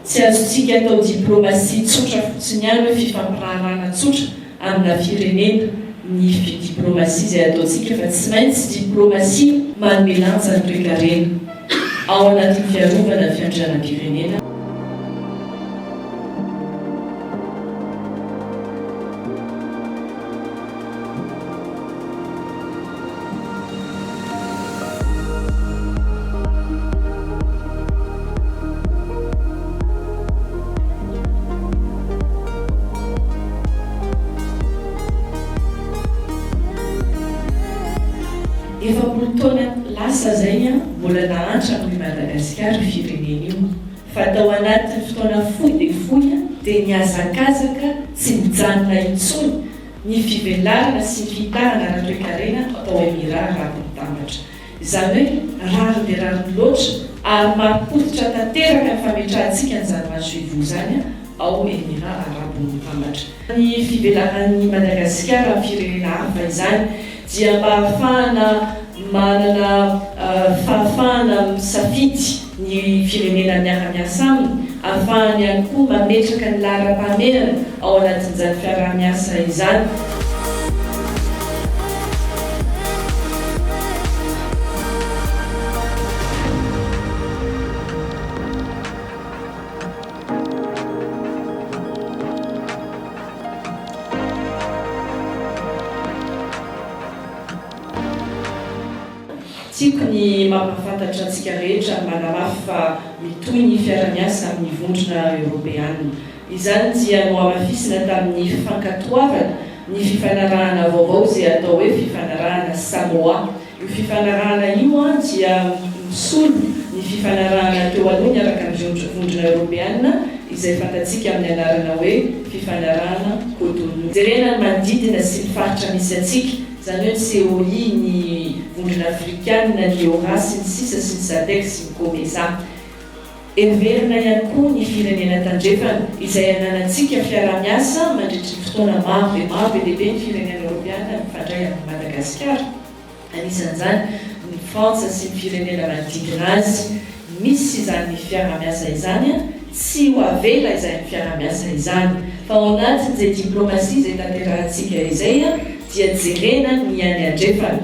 Tsy azontsika atao diplomasia tsotra fotsiny ihany hoe fifampiraharahana tsotra amina firenena ny diplomasia izay ataontsika fa tsy maintsy diplomasia manome lanja ny toekarena ao anatin'ny fiarovana ny fiandrianam-pirenena. Efapolo taona lasa zay an, mbola nahantra amin'i Madagasikara io firenena io, fa tao anatin'ny fotoana fohy dia fohy dia nihazakazaka tsy nijanona intsony, ny fivelarana sy ny fihitanana ara-toekarena ao Emirat Arabo Mitambatra, izany hoe rariny dia rariny loatra ary mampikoditra tanteraka ny fametrahantsika an'izany masoivoho izany ao Emirat Arabo Mitambatra. Ny fivelaran'i Madagasikara amin'ny firenena hafa izany dia mba hahafahana manana fahafahana misafidy ny firenena miara-miasa aminy, hahafahany ihany koa mametraka ny laharam-pahamehana ao anatin'izany fiaraha-miasa izany. Tiako ny mampahafantatra antsika rehetra manamafy fa mitohy ny fiara-miasa amin'ny Vondrona Eoropeana. Izany dia nohamafisina tamin'ny fankatoavana ny fifanarahana vaovao izay atao hoe Fifanarahana Samoa. Io fifanarahana io dia misolo ny fifanarahana teo aloha niaraka amin'ny Vondrona Eoropeana izay fantatsika amin'ny anarana hoe Fifanarahana Cotonou. Jerena ny manodidina sy ny faritra misy antsika, izany hoe ny COI, ny Vondrona Afrikana, ny Eora, sy ny sisa sy ny Sadec sy ny Comesa. Heverina ihany koa ny firenena tandrefana, izay ananantsika fiaraha-miasa mandritry ny fotoana maro dia maro, be dia be ny firenena eoropeana mifandray amin'i Madagasikara, anisan'izany ny Frantsa sy ny firenena manodidina azy. Misy izany fiaraha-miasa izany, tsy ho avela izany fiaraha-miasa izany, fa ao anatin'izay diplaomasia izay tanterahantsika izay dia jerena ny any andrefana.